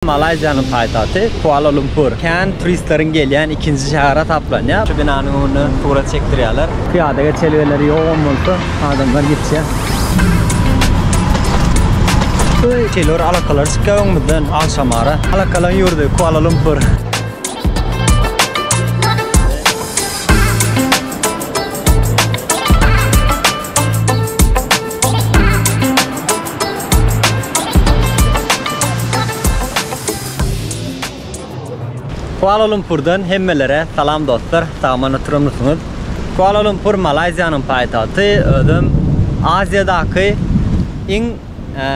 Malaýziýanyň paýtagty Kuala-Lumpur kän turistleriň gelýän ikinji şäher hasaplanýar. Şu binanyň öňünde surat çekdirýärler. Pyýada geçelgeleri ýogan bolsa, adamlar geçýär. Öý, şeýle bir alakalar çykýar öňümizden agşam ara. Alakalaryň ýurdy Kuala-Lumpur. Kuala Lumpurdan hemmelere salam dostlar, sagaman oturamysyňyz? Kuala Lumpur Malaýziýanyň paýtagty, özem Aziýadaky iň e,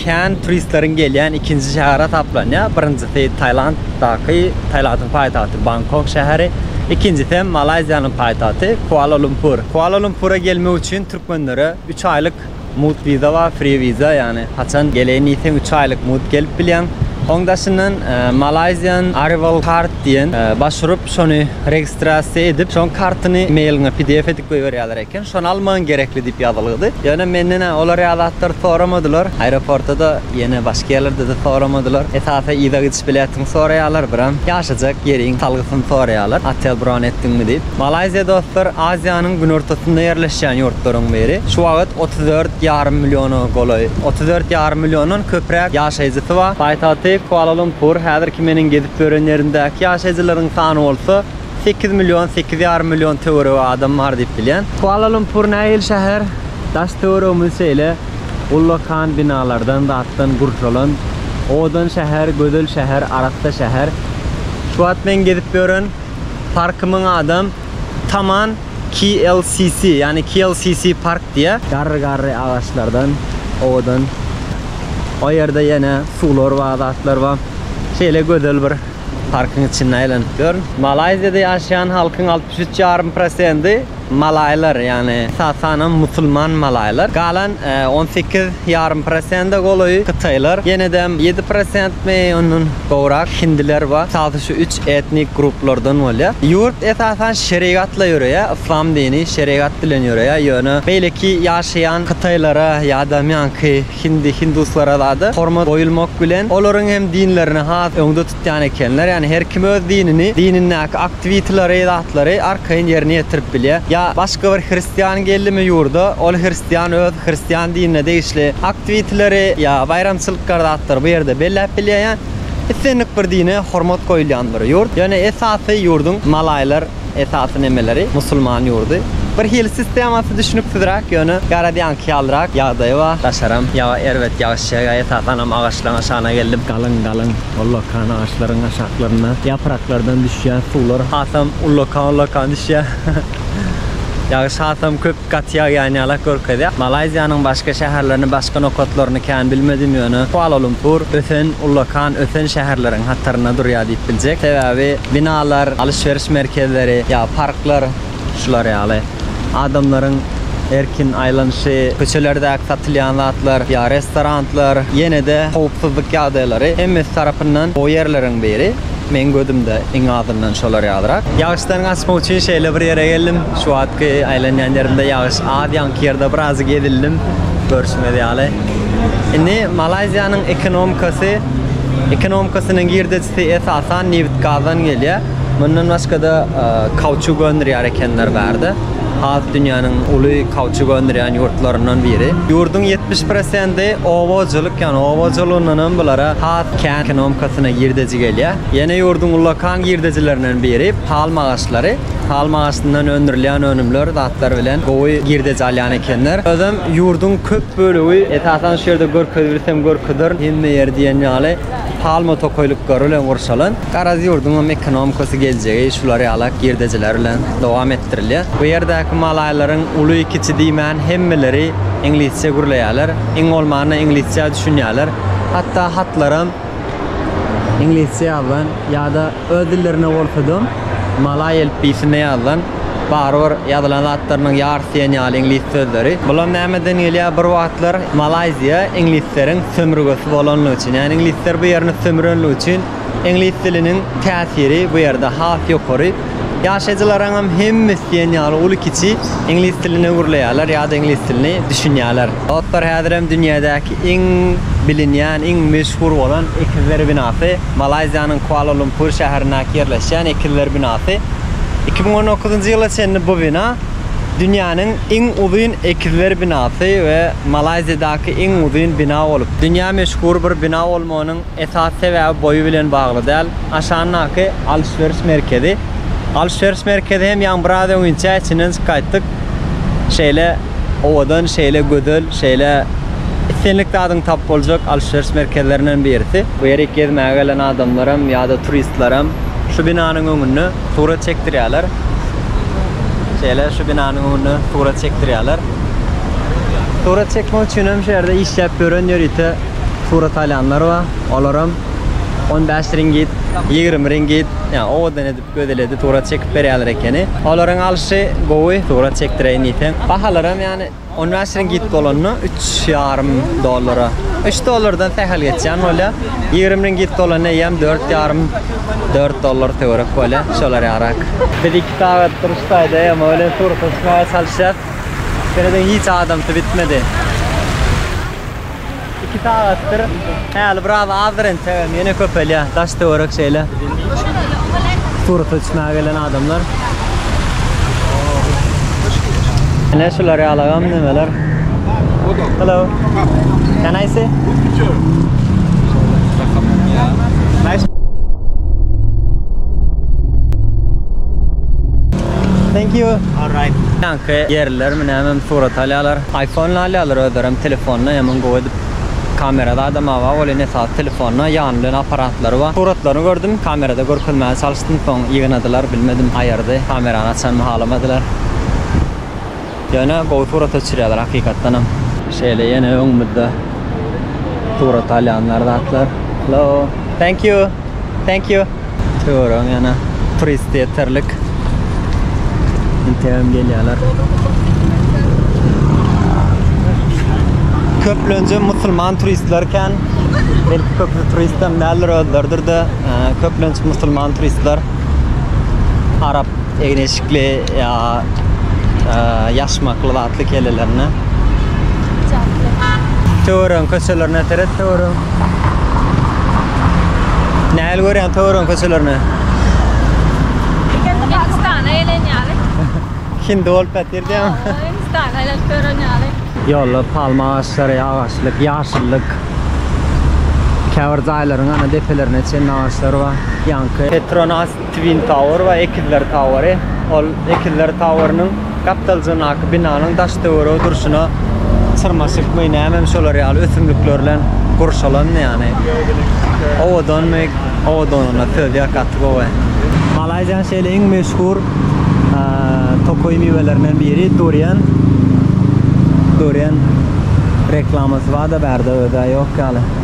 kän turistleriň gelýän ikinji şäheri hasaplanýar. Birinjisi Tailanddaky, Tailandyň paýtagty Bangkok şäheri, ikinjisi hem Malaýziýanyň paýtagty Kuala Lumpur. Kuala Lumpura gelmek üçin türkmenlere 3 aýlyk Mugt wiza bar, free wiza, ýagny haçan geleýin diýseň üç aýlyk mugt gelip bilýäň. Oň daşyndan Malaysian Arrival Card diýen baş urup şony registrasiýa edip şoň kartyny mailiňe pdf edip goýberýärler eken. Şony almagyň gerekli diýip ýazylgydy. Ýöne menden olar ýaly zatlary soramadylar. Aeroportada-da ýene başga ýerlerde-de soramadylar. Esasy yza gidiş biletiňi soraýarlar, biram ýaşajak ýeriň salgysyny soraýarlar, otel bron etdiňmi diýip. Malaýziýa dostlar Aziýanyň günortasynda ýerleşýän ýurtlaryň biri. Şu wagt otuz dört ýarym milliona golaý, otuz dört ýarym milliondan köpräk ýaşaýjysy bar. Paýtagty Kuala-Lumpur, häzirki meniň gezip ýören ýerimdäki ýaşaýjylaryň sany bolsa sekiz million, sekiz ýarym million töweregi adam bar diýip bilýän. Kuala-Lumpur nähili şäher? Daş-töweregimiz şeýle ullakan binalardan, zatdan gurşalan, owadan şäher, gözel şäher, arassa şäher. Şu wagt men gezip ýören. Parky myň adam Taman KLCC, ýagny KLCC Park diýýär. Garry-garry agaçlardan owadan. O ýerde ýene suwlar bar, zatlar bar. Şeýle gözel bir parkyň içinde aýlanyp ýörün. Malaýziýada ýaşaýan halkyň altmyş üç ýarym prosendi. Malaýlar, ýagny esasanam musulman malaýlar, galan on sekiz ýarym prosende golaýy hytaýlar, ýene-de ýedi prosentmi, ondan gowrak hindiler bar. Salsy şu üç etnik gruplardan bolýar. Ýurt esasan şerigatla ýöreýär, yslam dini şerigat bilen ýöreýär, ýöne beýleki ýaşaýan hytaýlara ýa-da ýaňky hindi, hinduslara zada hormat goýulmak bilen, olaryň hem dinlerini has öňde Ýan ekenler ýani her kim öz dinini dinindäki aktwitleri zatlary arkaýyn ýerine ýetirip bilýä ýa başga bir hristiýan geldimi ýurda ol hristiýan öz hristiýan dinine degişli aktwitleri ýa baýramçylykkar zatlary bu ýerde belläp bilýä ýa islendik bir dine hormat goýulýan bir ýurt ýöne esasy ýurduň malaýlar Esasy nemeleri musulman ýurdy. Bir hili sistemasy düşnüksizräk ýöne Garadýanky ýalyrak ýagdaýy bar. Daşaram ýaga erbet ýagyş ýagýar esasanam agaçlaň aşagyna geldim. Galyň galyň ullakan agaçlaryň aşaklarynda ýapraklardan düşýän suwlar hasam ullakan ullakan düşýär. Ýagyş hasam köp. Gaty ýagýan ýalak görkezýär. Malaýziýanyň başga şäherlerini, başga nokatlaryny kän bilmedim, ýöne Kuala-Lumpur ösen, ullakan ösen şäherleriň hatarynda durýar diýip biljek. Sebäbi binalar, alyş-beriş merkezleri ýa parklar şular ýaly. Adamlaryň erkin aýlanyşy, köçelerdäki satylýan zatlar ýa restoranlar, ýene-de howpsuzlyk ýagdaýlary hemmesi tarapyndan gowy ýerleriň biri. Meň gözümde iň azyndan şolar ýalyrak. Ýagyşdan gaçmak üçin şeýle bir ýere geldim. Şu wagtky aýlanýan ýerimde ýagyş az, ýaňky ýerde birazjyk ezildim, görşüňiz ýaly. Indi Malaýziýanyň ekonomikasy, ekonomikasynyň girdejisi esasan nebit-gazdan gelýär. Mundan başga-da kauçuk öndürýär ekenler bärde. has dünýäniň uly kauçuk öndürýän ýurtlaryndan biri. Ýurduň ýetmiş prosenti oba hojalyk, ýagny oba hojalygyndan hem bulara has kän ekonomikasyna girdeji gelýär. Ýene ýurduň ullakan girdejilerinden biri palm agaçlary. Palm agaçyndan öndürilýän önümler, zatlar bilen gowy girdeji alýan ekenler. Özem ýurduň köp bölegi, esasan şu ýerde görkezip bilsem görkezerin, hemme ýer diýen ýaly, Palma tokaýlyklary bilen gurşalan Garaz ýurduňam ekonomikasy geljegi şular ýala girdejiler bilen dowam etdirilýär. Bu ýerdäki malaýlaryň uly-kiçi diýmän hemmeleri iňlisçe gürleýärler. Iň bolmanda iňlisçä düşünýärler. Hatda hatlaram iňlisçe ýazylan ýa-da Öz dillerinde bolsada, malaý elipbiýsinde ýazylan, barybir ýazylan zatlarynyň ýarysy diýen ýaly iňlis sözleri. Bulam nämeden gelýär? Bir wagtlar Malaýziýa iňlisleriň sömürgesi bolanlygy üçin, ýagny iňlisler bu ýerini sömürenligi üçin iňlis diliniň täsiri bu ýerde has ýokary. Ýaşaýjylaryňam hemmesi diýen ýaly uly-kiçi iňlis diline gürleýärler ýa-da iňlis dilini düşünýärler. Dostlar, häzirem dünýädäki iň bilinýän, iň meşhur bolan Ekizler binasy. Malaýziýanyň Kuala-Lumpur şäherindäki ýerleşýän Ekizler binasy. Iki müň on dokuzynjy ýyla çenli bu bina dünýäniň iň uzyn ekizler binasy we Malaýziýadaky iň uzyn bina bolup, dünýä meşhur bir bina bolmagynyň esasy sebäbi boýy bilen bagly däl. Aşandaky alşberiş merkezi. Alşberiş merkezi hem ýaňy biraz öňinçä içinden çykaýtdyk. Şeýle. owadan, şeýle gözel, şeýle islendik zadyňy tapyp boljak alşyryş merkezlerinden birisi. Bu ýere gezmäge gelen adamlaram ýa-da turistlerem şu binanyň öňünde surat çekdirýärler. Şeýle şu binanyň öňünde surat çekdirýärler. Surat çekmek üçinem şu ýerde işläp ýören ýörite surat alýanlar bar. Olaram on bäş ringit, ýigrimi ringit, ýa owadan edip Gözeledi surat çekip berýärler ekeni. Olaryň alşy gowy, surat çekdireýin diýseň. Bahalaram ýany on bäş ringit bolanda üç ýarym dollara. Üç dollardan sähel geçýän bolýar. Ýigrimi ringit bolanda eýýäm dört ýarym, dört dollar töwerek bolýar. Şolar ýarak. Biz iki sagat duruş taýda ema welin surata düşmäge çalyşýas. Seredýän hiç adamsy bitmedi. Iki sagatdyr häli biraz azdyr entegem ýene köpelýär. Daş töwerek şeýle. Surat içmäge gelen adamlar. Ine şular ýalagam nemeler. Hello. Can I see? Nice. Thank you. All right. Ýaňky ýerliler mine hemem surat alýarlar. Aypony alýarlar özlerem telefonyna ýaman gowy edip kamerasy adam awa welin esasy telefonyna ýany bilen aparatlary bar suratlaryny gördüm kamerada görkezmäne çalyşdym soň ýygnadylar bilmedim aýyrdy kamerany açanymy halamadylar ýöne gowy surat öçürýärler hakykatdanam. Şeýle ýene öňümizde surat alýanlar zatlar hello thank you thank you. Töwerek ýana turist ýeterlik. Interam gelýärler. Köplenje musulman turistler kän. Belki köpü turist hem däldir özleridir de e, köplenç musulman turistler arap egneşikli ýa e, ýaşmakly Atly kellelerine. Hiç atly. Töwerek köçelerine seret töwerek. Nähili görýäň töwerek köçelerini? Ikende Pakistana gelen ýaly. Hindi bolup ýatyr diýýäň. Hindistana aýlanyp ýören ýaly. Ýollar palma agaçlary, agaçlyk, ýaşyllyk. Käbir jaýlaryň ana depelerine çenli agaçlar bar. Ýaňky Petronas Twin Tower we Ekizler Toweri, ol Ekizler Towerynyň gapdaljygyndaky binanyň daş-töweregi durşuna syrmaşykmy, nämemi şolar ýaly ösümlikler bilen gurşalandy ýany. Owadanmy, owadanlygyna söz ýok, gaty gowy. Malaýziýanyň şeýle iň meşhur tokaý miwelerinden biri durian. Durian reklamasy bar-da bärde, özi-ä ýok ýaly.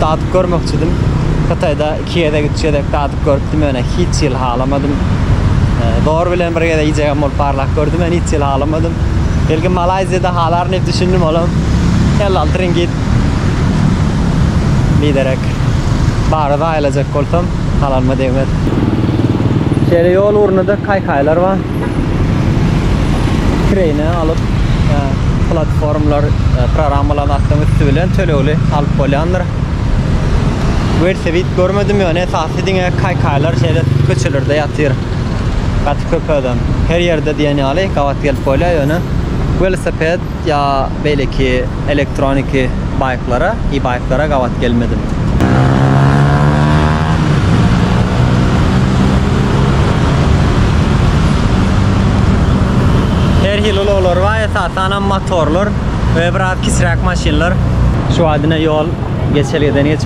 dadyp görmekçidim. Hytaýda iki gezek, üç gezek dadyp görüpdim, ýöne hiç hili halamadym. Dor bilen bir gezek iýjegem bolup barlap gördüm, ýöne hiç hili halamadym. Belki Malaýziýada halaryn diýip düşündim, olam elli alty ringit. Biderek bary zaýalajak bolsam, halanyma degmez. Şeýle ýol ugrunda-da kaýkaýlar bar. Kireýine alyp, e, platformlar, e, programmalaryny atlaryň üsti bilen tölegli alyp bolýandyr. Welsewid görmedim, ýöne esasy diňe kaýkaýlar şeýle köçelerde ýatyr. Gaty köp adam. Her ýerde diýen ýaly gabat gelip bolýar, ýöne welosiped Gabat ýa beýleki elektroniki baýklara, e-baýklara gabat gelmedim. Her hili ulaglar bar, esasanam motorlar we biraz kiçiräk maşynlar. Şu wagtine ýol geçelgeden geçip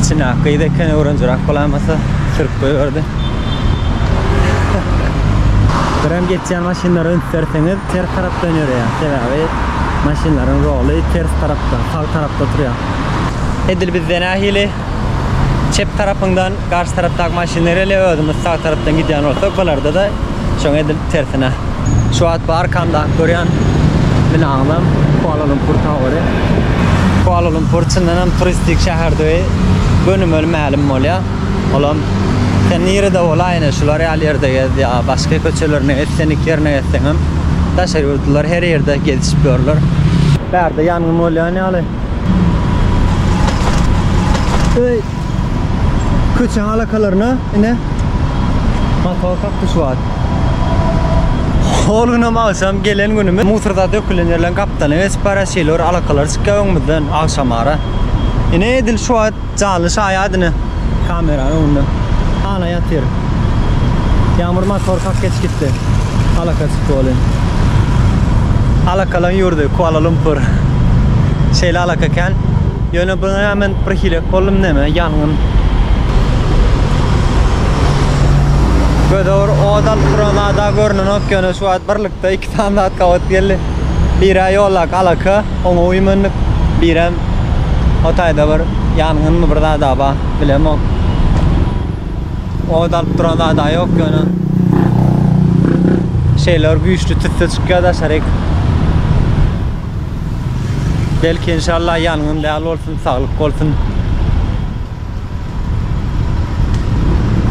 Içine ak gyz eken öwrenjirak bolamasa sürüp goýberdi. Birem geçýän maşynlara üns berseňiz ters tarapdan ýöreýär. Sebäbi maşynlaryň roly ters tarapda, sag tarapda turýar. Edil bizde nähili? Çep tarapyňdan garşy tarapdaky maşynlar ele özümiz sag tarapdan gidýän bolsak bularda-da şoňa edil tersine. Şu wagt bu arkamdaky görýän binaňyzam Kuala Lumpur Toweri. Kuala Lumpur çyndanam turistik şäherdigi gönümel mälim bolýar. Olam sen nirede bolaýyna şular ýaly ýerde gez ýa başga köçelerine gez senlik ýerine gezseňem daşary ýurtlular her ýerde gezişip ýörler. Bärde ýangyn bolýan ýaly. Öy köçeň alakalarına ine motor kaktuş var. Hol günem akşam gelen günümiz musurda dökülen yerlerin gapdalyny geçip barýar şeýle bir alakalar çykýar öňümizden agşamara. Ine edil şu wagt Janly şaýat ine kameranyň öňünde. Hana ýatyr. Ýagmyr motor kak geç gitdi. Alaka çykdy welin. Alakalaň ýurdy Kuala Lumpur. Şeýle alaka eken. Ýöne bu näme men bir hilek boldum näme ýangyn. Göze bir od alyp duran zada görnenok ýöne şu wagt birlikde Standart gabat geldi. Bire ýolak alaka, oňa uýmandyk. Birem o taýda bir ýangynmy bir zada bar, bilemok. Ot alyp duran zada ýok ýöne şeýle bir güýçli tüsse çykýar daşaryk. Belki inşallah ýangyn däl bolsun, saglyk bolsun.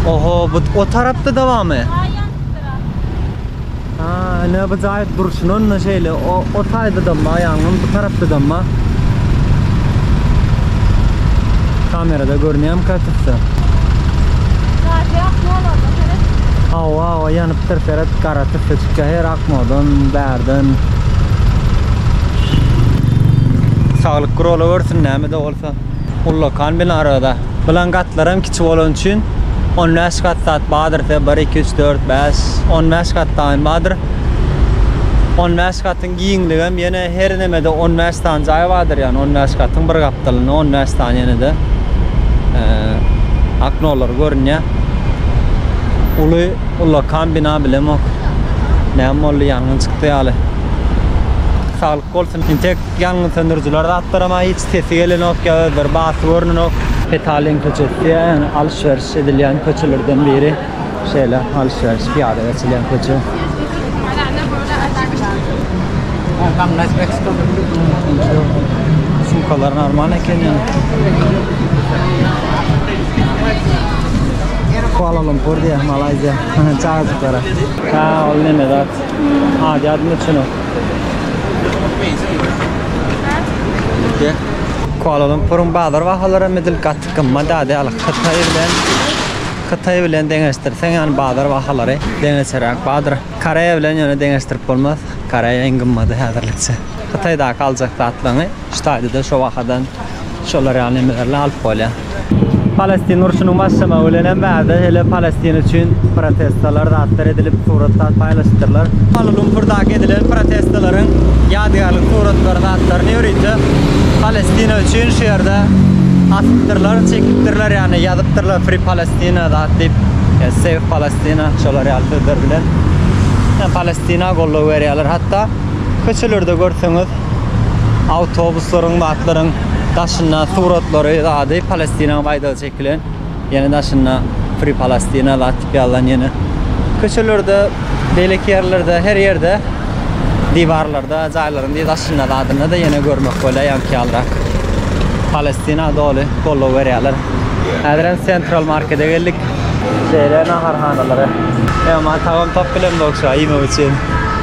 Oho, bu o tarapda-da barmy? Ine bu jaýyk durşuna şeýle o taýda dam aýagyňam bu tarapda dam bar. Kamerada görünýärmi kaçyksa? Gazy ak ýolanda seret. Hawa hawa ýanypdyr seret gara tüsse çykýa her akmodan bärden. Saglyk gurala görsün näme de bolsa. Ullakan bilen arada bilen gatlaram kiçi bolany üçin on bäş gat zat bardyr se bir iki üç dört bäş on bäş gat daýym bardyr on bäş gatyň giňligem ýene her nemede on bäş sany jaý bardyr ýagny on bäş gatyň bir gapdalynda on bäş sany ýene-de aknolary görünýär uly ullakan bina bilemok näme boldy ýangyn çykdy ýaly saglyk Bolsun entek ýangyn söndürijiler zatlaram-a hiç sesi gelenok ýa özleri basy görnenok. Petalin köçesi diýen alys-beriş edilýän köçelerden biri. Şeýle alys-beriş, pyýada geçilýän köçe. Sumkalar normal eken ýa. Kuala Lumpur diýýär, Malaýziýa. Çagajyklara. Hä, ol neme zat? Ady ýadyma düşenok. Kuala Lumpuryň bazar bahalary hem edil gaty gymmat däl, ýaly Hytaý bilen Hytaý bilen deňeşdirseň, ýany bazar bahalary deňeçeräk bardyr. Koreýa bilen ýöne deňeşdirip bolmaz, Koreýa iň gymmady häzirlikçe. Hytaýdaky aljak zatlaryňy Ştadyda şo wahadan şolar ýaly nemelerle alyp bolýa. Palestin urşunyň başlamagy bilenem bärde hele Palestin üçin protestalar zatlar edilip surat zat paýlaşypdyrlar. Kuala Lumpurdaky edilen protestalaryň ýadygärlik suratlary zatlaryny ýörite Palestina üçin şu ýerde asypdyrlar çekipdirler ýagny ýazypdyrlar Free Palestina zat diýip Save Palestina şolar ýaly sözler bilen Palestina goldaw berýärler hatda köçelerde görseňiz awtobuslaryň we atlaryň daşynda suratlary zady Palestinaň baýdagy çekilen. Ýene daşynda Free Palestina zat diýip ýazylan ýene. Köçelerde, beýleki ýerlerde, her ýerde diwarlarda, jaýlaryň diýip daşynda zadynda-da ýene görmek bolýar ýaňky ýalyrak. Palestina doly goldaw berýärler. Häzir hem Central Markete geldik. Şeýle naharhanalary. Emma tagam tapyp bilemzok şu an iýmek üçin.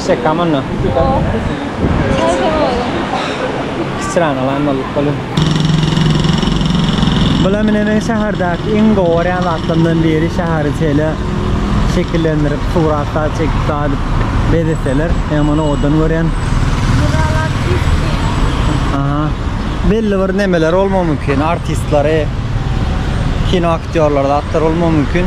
Çiçek kamanna. Yok. Çay soralım. Kisiran alan balık balı. Bula mine men şäherdäki iň gowy görýän zatlarymdan biri şäheri şeýle şekillendirip, suratda çekip dadyp bezeseler. Men muny odan görýän. Buralar pis. Aha. Belli bir nemeler bolmagy mümkin. Artistlary, kino aktýorlary, zatlar bolmagy mümkin.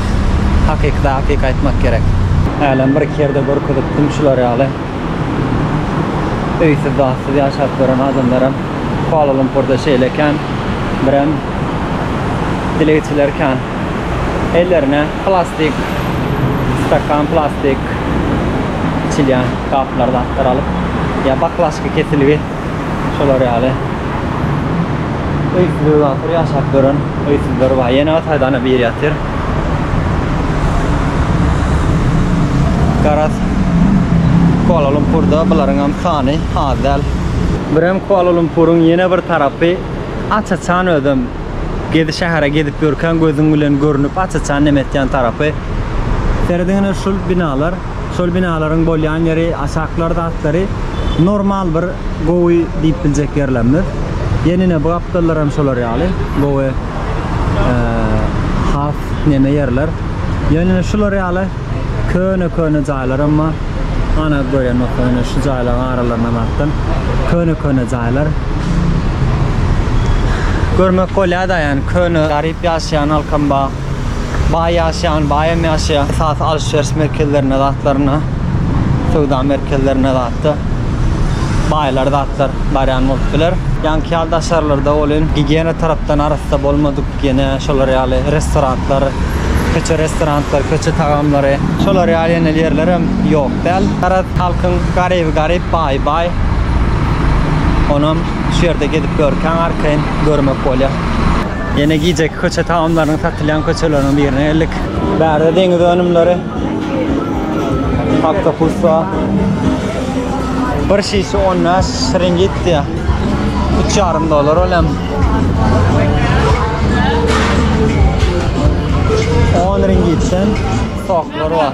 gerek. Hakykda hakyky aýtmak gerek. Hälem bir iki ýerde görkezipdim şular ýaly öýsüz zatsyz ýaşap ýören adamlaram Kuala Lumpurda şeýle ekän birem dilegçiler kän ellerine plastik stakan plastik içilýän gaplar zatlar alyp ýa baklažka kesilgi Şolar ýaly. Öýsüz öý ahyr ýaşap gören öýsüzler bar. Ýene Ataýdana biri ýatyr. Garaz Kuala Lumpurda bularyň hem sany az däl. Birem Kuala Lumpuryň ýene bir tarapy aç-açan özem gezi şähere gezip ýörkäň gözüň bilen görnüp aç-açan nem etýän tarapy. Serediň ine şul binalar. şol binalaryň bolýan ýeri, aşaklar zatlary normal bir gowy diýip biljek ýerlemdir. Ýenene bu gapdallar hem şolar ýaly gowy has neme ýerler. Ýenene şular ýaly köne-köne jaýlar hem bar. Ana görýän bolsaň ine şu jaýlaryň aralaryndan zatdan köne-köne jaýlar. Görmek bolýar-da ýani köne garyp ýaşaýan halkam bar. Baý ýaşaýan, baýam ýaşaýar. Esasy alşyş-ýeriş merkezlerine zatlaryna, söwda merkezlerine zatda baýlar zatlar barýan bolup biler. Ýaňky ýaly daşarlarda welin gigiýena tarapdan arassa bolmadyk ýene şolar ýaly restoratlar, köçe restorantlary, köçe tagamlary, şolar ýaly ýene ýerlerem ýok däl. Garaz, halkyň garyby garyp, baýy baý. Onam şu ýerde gezip ýörkäň arkaýyn görmek bolýar. Ýene gijeki köçe tagamlarynyň satylýan köçeleriniň birine geldik. Bärde deňiz önümleri. Oktopus bar. Bir şişe 15 şringit diýýär. 3,5 dollar ol hem. 10 ringitden soklar bar.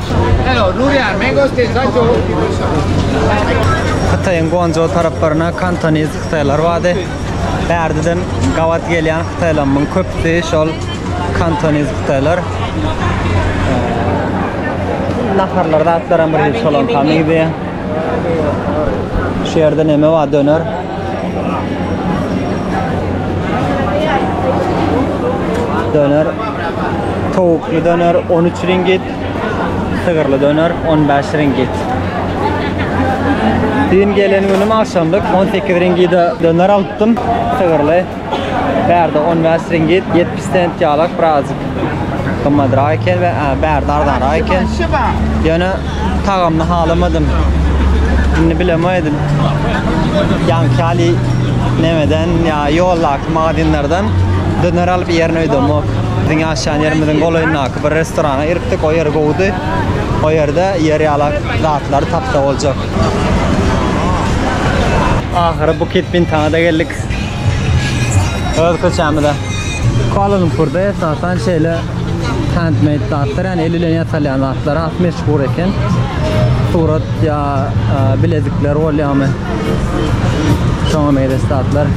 Hytaýyň Guanzhou taraplaryna kantoniz hytaýlar bardy. Bärdeden gabat gelýän hytaýlarymyň köpüsi şol kantoniz hytaýlar. Naharlar zatlaram bir hiç bolan tamydy. Şu ýerde neme bar döner. Döner. Towukly döner 13 ringit. Sygyrly döner on bäş ringit. Düýn gelen günüm agşamlyk on sekiz ringide döner alypdym. Sygyrly. Bärde on bäş ringit, ýetmiş sent ýalak birazjyk gymmadrak eken we bärde arzanrak eken. Ýöne tagamyny halamadym. Indi bilemedi. Ýaňky ýaly nämeden ýa ýoldaky magazinlerden döner alyp iýerin öýdemok. Biziň ýaşaýan ýerimiziň golaýyndaky. Ýapyk bir restorana giripdik. O ýer gowudy. O ýerde ýer ýalak zatlary tapsa boljak. Ahyry Bukit Bintana-da geldik. Öz köçämize. Kuala Lumpurda esasan şeýle handmade zatlar, ýagny el bilen ýasalýan zatlar has meşhur eken. Surat ýa bilezikler bolýamy? Şoňa meýle statlar.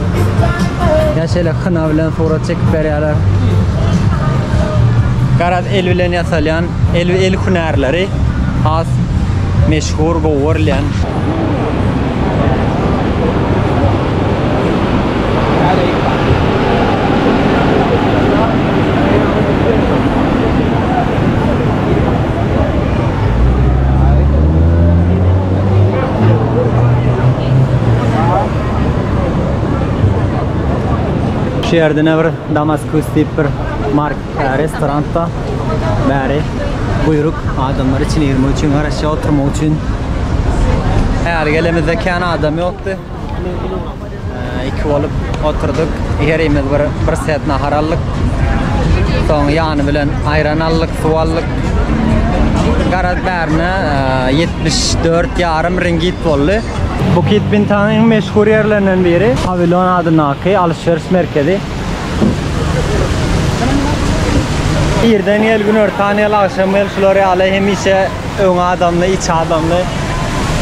Ya şöyle kına bilen surat çekip berýärler. Garaz el bilen ýasalýan, el el hünärleri has meşhur gowurlan. Şu ýerde ne bir Damaskus diýip bir mark e, restoran da bäri buýruk adamlar içine girmek üçin garaşýar oturmak üçin. Häli gelemizde kän adam ýokdy. Iki bolup oturdyk. Herimiz bir bir set nahar aldyk. Soň ýany bilen aýran aldyk, suw aldyk. Garaz bärine 74 ýarym ringit boldy. Bukit Bintanyň meşhur ýerlerinden biri Pawilon adyndaky alyş-beriş merkezi. Irden gel, günortan gel, agşam gel şular ýaly hemişe Öň adamly, içi adamly.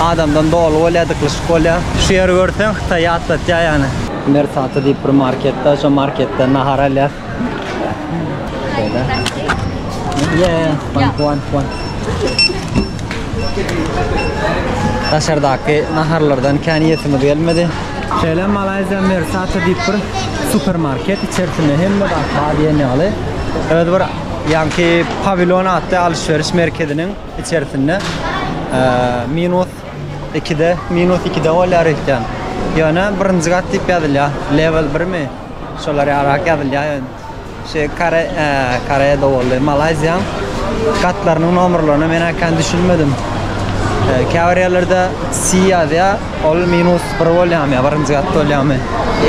Adamdan doly bolýar, dyklyşyk bolýar. Şu ýeri görseň Hytaýy ýatlatýar ýaly. Mersata diýip bir market bar, şo marketden nahar alýas. Şeýle. Daşardaky naharlardan kän iýesimiz gelmedi. Şeýle Malaýziýa Mersata diýip bir supermarket, içerisinde hemme zat bar diýen ýaly. Öz bir Ýaňky Pawilon atly alyş-beriş merkeziniň içerisinde minus ikide, minus ikide bolýar öýtýän. Ýöne birinji gat diýip ýazylýar. Level birmi? Şolar ýarak ýazylýar ýöne. Şu Kore, Koreýada boldy. Malaýziýaň gatlarynyň nomerlerine men äkän düşünmedim. Käbir ýerlerde C ýazýar, Ol minus bir bolýamy ýa birinji gatda bolýamy?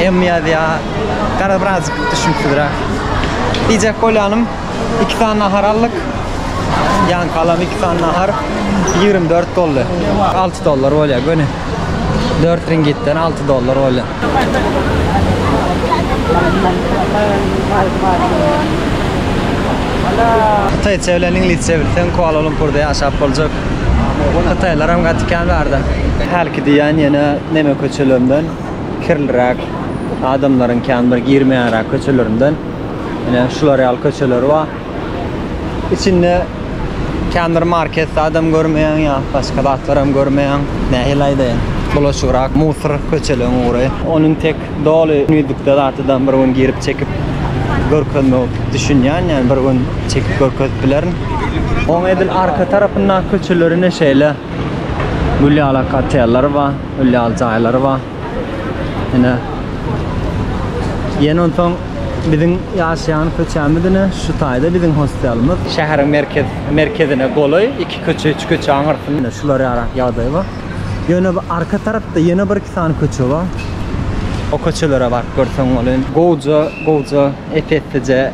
M ýazýa. Gara birazjyk düşünsizräk. Diýjek bolýanym, iki sany nahar aldyk. Ýaňky alam iki sany nahar ýigrimi dört boldy. Alty dollar bolýa göni. Dört ringitden alty dollar bolýa. Hytaýça bilen iňlisçe bilseň Kuala-Lumpurda ýaşap boljak. Hytaýlaram gaty kän barda. Hälki diýýän ýene neme köçelerinden, kirliräk, adamlaryň kän bir girmeýänräk köçelerinden. Ine şular ýaly köçeler bar. içinde känbir marketde adam görmeýäň ýa başga zatlaram görmeýäň. Nähili aýdaýyn? Bulaşygrak musor köçeleň ugry. Onuň tek doly düzlükde zatydam bir gün girip çekip görkezmek düşünýän ýa bir gün çekip görkezip bilerin. Oň edil arka tarapyndaky köçelerinde şeýle gül ýaly otellary bar, gül ýaly jaýlary bar. Ene. Ýene onsoň biziň ýaşaýan köçämiz ine şu taýda biziň hostelimiz. Şäheriň merkez merkezine golaý iki köçe, üç köçe aňyrsynda. Ine şular ýaly ýagdaý bar. Ýöne bu arka tarapda ýene bir iki sany köçe bar. O köçelere baryp görseň bolaý. Gowja, gowja, ep-eslice.